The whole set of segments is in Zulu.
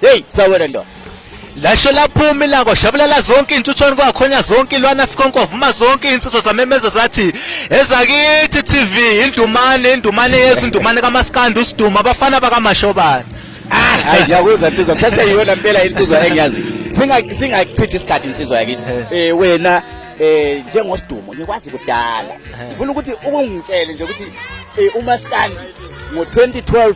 Hey sawena ndo. Lasho laphuma ilanga shabulala zonke intuthwane kwakhonya zonke ilwana fikonko vuma zonke insizwa zamemeza zathi ezakithi TV indumane indumane yesu indumane kamaskandi usiduma abafana bakamashobana. Ah, hayi ngiyakuzwa insizwa kusase yiyona impela insizwa engiyazi. Singa singachithi isikhathi insizwa yakithi. Eh, eh wena eh njengosidumo ngikwazi kudala. Eh. Ngifuna ukuthi ukungitshele nje ukuthi eh umaskandi ngo 2012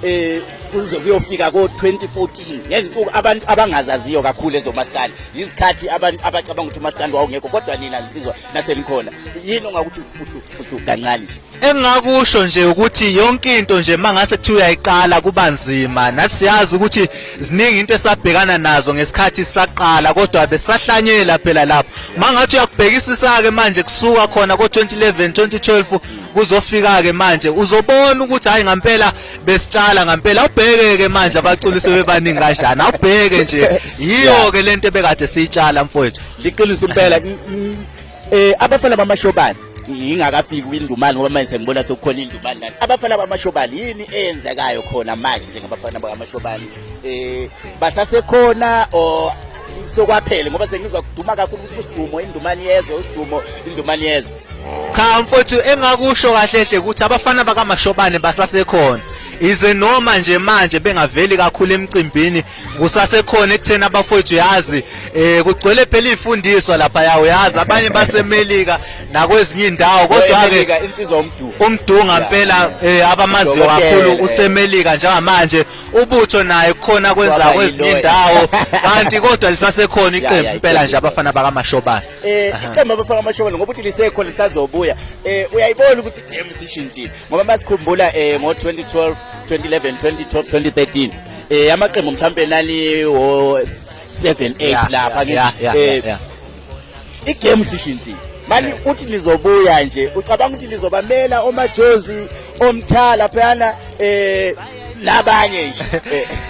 eh kuze kuyofika ko-2014 ngensuku abantu abangazaziyo kakhulu ezomaskandi yizikhathi abantu abacabanga ukuthi umaskandi wawungekho kodwa nina zinsizwa nasenikhona yini ongakuthi fuhlufuhlu kancane nje engingakusho nje ukuthi yonke into nje uma ngase kuthiwa uyayiqala kuba nzima nathi siyazi ukuthi ziningi into esabhekana nazo ngesikhathi sisaqala kodwa besahlanyela phela lapho uma ngathi uyakubhekisisa-ke manje kusuka khona ko-2011 2012 kuzofika-ke manje uzobona ukuthi hhayi ngampela besitshala ngampela awubheke ke manje abaculi sebebaningi kanjani awubheke nje yiyo ke lento ebekade siyitshala mfowethu liqiniso impela eh abafana bamashobani ngingakafiki kwindumane ngoba manje sengibona sekukhona indumane lana abafana bamashobali yini eyenzekayo khona manje njengabafana bakamashobali eh basasekhona or sokwaphele ngoba sengizwa kuduma kakhulu ukuthi usidumo indumane yezwe usidumo indumane yezwe cha mfowethu engakusho kahle hle ukuthi abafana bakamashobane basasekhona ize noma nje manje bengaveli kakhulu emcimbini kusasekhona ekutheni abafowethu yazi eh kugcwele phela ifundiswa lapha yawo yazi abanye basemelika nakwezinye indawo kodwa ke insizwa umduhu umdunga impela eh, abamaziyo kakhulu usemelika njengamanje ubutho naye khona kwenza kwezinye indawo kanti kodwa lisasekhona iqembu impela nje abafana bakamashobana eh iqembu abafaka amashobolo ngoba uthi lisekho lisazobuya eh uyayibona ukuthi game sishintshile ngoba masikhumbula eh ngo 2012 2011 2012 2013 eh amaqembu mhlambe nali wo 7 8 lapha ngithi eh igame sishintshile mani uthi lizobuya nje ucabanga ukuthi lizobamela omajozi omthala phana eh nabanye nje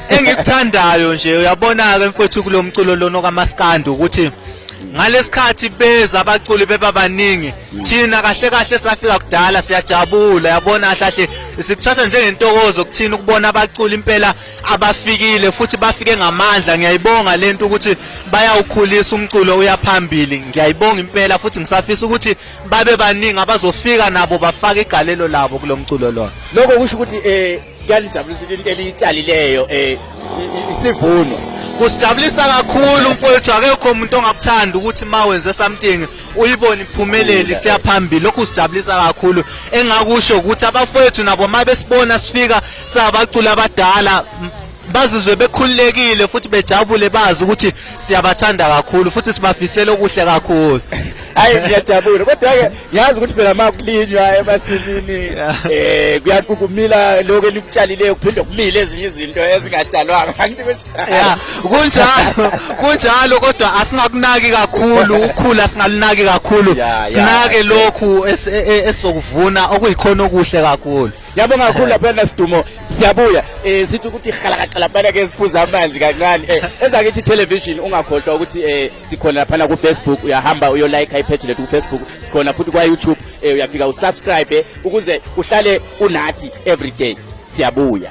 engikuthandayo nje uyabona ke mfowethu kulomculo lona kamaskandi ukuthi ngalesikhathi beza abaculi beba baningi thina kahle kahle safika kudala siyajabula yabona kahle sikuthatha njengentokozo kuthina ukubona abaculi impela abafikile futhi bafike ngamandla ngiyayibonga lento ukuthi bayawukhulisa umculo uyaphambili ngiyayibonga impela futhi ngisafisa ukuthi babe baningi abazofika nabo bafake igalelo labo kulo mculo lona lokho kusho ukuthi um kuyalijabulisa into eliyitshalileyo um isivuno kusijabulisa kakhulu mfowethu akekho umuntu ongakuthanda ukuthi ma wenze something uyibone iphumeleli siyaphambili lokhu sijabulisa kakhulu engakusho ukuthi abafowethu nabo uma besibona sifika sabacula abadala bazizwe bekhululekile futhi bejabule bazi ukuthi siyabathanda kakhulu futhi sibafisela okuhle kakhulu hayi ngiyajabula kodwa ke ngiyazi ukuthi phela makulinywa emasimini eh kuyaqukumila lokho elikutshalileyo kuphinde kumile ezinye izinto ezingatshalwanga angithi kunjalo kunjalo kodwa asingakunaki kakhulu ukhula singalunaki kakhulu sinake lokhu e, e, esokuvuna okuyikhona okuhle kakhulu Yabonga kakhulu lapha nasidumo siyabuya eh sithi ukuthi halakaqala phana ke siphuza amanzi kancane eh ezakithi television ungakhohlwa ukuthi eh sikhona lapha ku Facebook uyahamba uyo like i page lethu ku Facebook sikhona futhi kwa YouTube eh uyafika usubscribe eh, ukuze uhlale unathi every day siyabuya